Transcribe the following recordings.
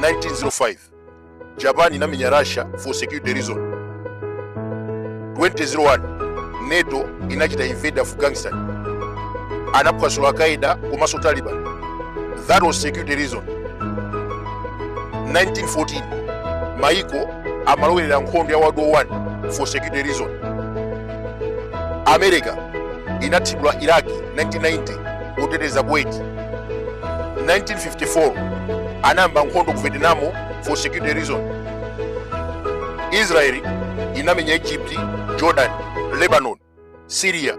1905 japan inamenya russia for security reason 2001 nato inachita invade afghanistan anaphwasula al qaeda komanso taliban that was security reason 1914 maiko amalowerera nkhondo ya world war 1 for security reason america inathibula iraq 1990 oteteza kuwait 1954 anayamba nkhondo ku vietnam for security reason israeli inamenya egypt jordan lebanon syria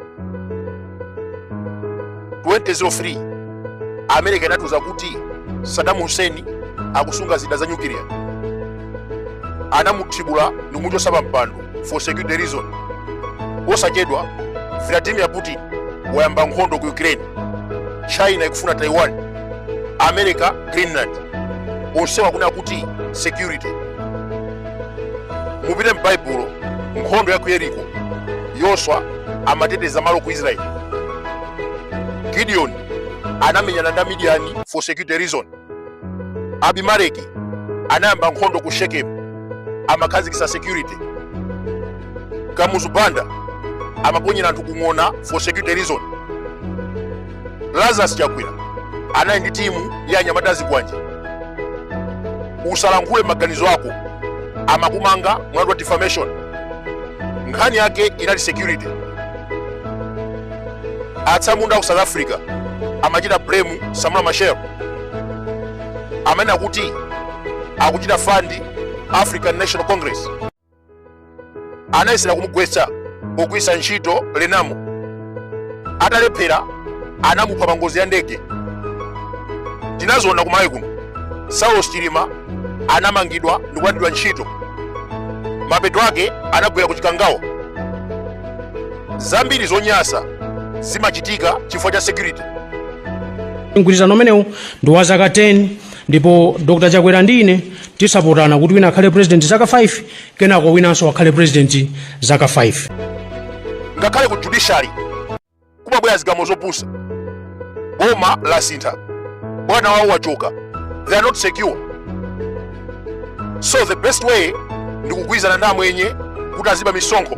2003 america inatiuza kuti saddam hussein akusunga zida za nyukiliya anamuthibula ndikumuchotsa pa mpando for security reason osachedwa vladimir putin wayamba nkhondo ku ukraine china ikufuna taiwan america greenland onsewa akunena kuti security mupite m'baibulo nkhondo ya ku yeriko yoswa amateteza malo ku israeli gideon anamenyana ndi amidiyani for security reason abimeleki anayamba nkhondo ku shekemu amakhazikisa security kamuzu banda amaponyera anthu kung'ona for security reason lazarus chakwera anali ndi timu ya anyamata a zikwanje usalankhule maganizo ako amakumanga mlandu wa defamation nkhani yake inali security atsamunda ku south africa amachita blame samula machel amanena kuti akuchita fund african national congress anayesera kumugwetsa pogwiritsa ntchito renamo atalephera anamupha pa ngozi ya ndege tinaziona kumalawi kuno saulos chilima anamangidwa ndi kulandidwa ntchito mapeto ake anagwera ku chikangawa zambiri zonyasa zimachitika chifukwa cha security mgwirizano umenewu ndi wa zaka 10 ndipo dr chakwera ndi ine tidzapatsana kuti wina akhale president zaka 5 kenako winanso akhale president zaka 5 ngakhale ku judiciary kumabwera zigamulo zopusa boma lasintha bwana wawo wachoka they are not secure so the best way ndi kugwirizana ndi amwenye kuti aziba misonkho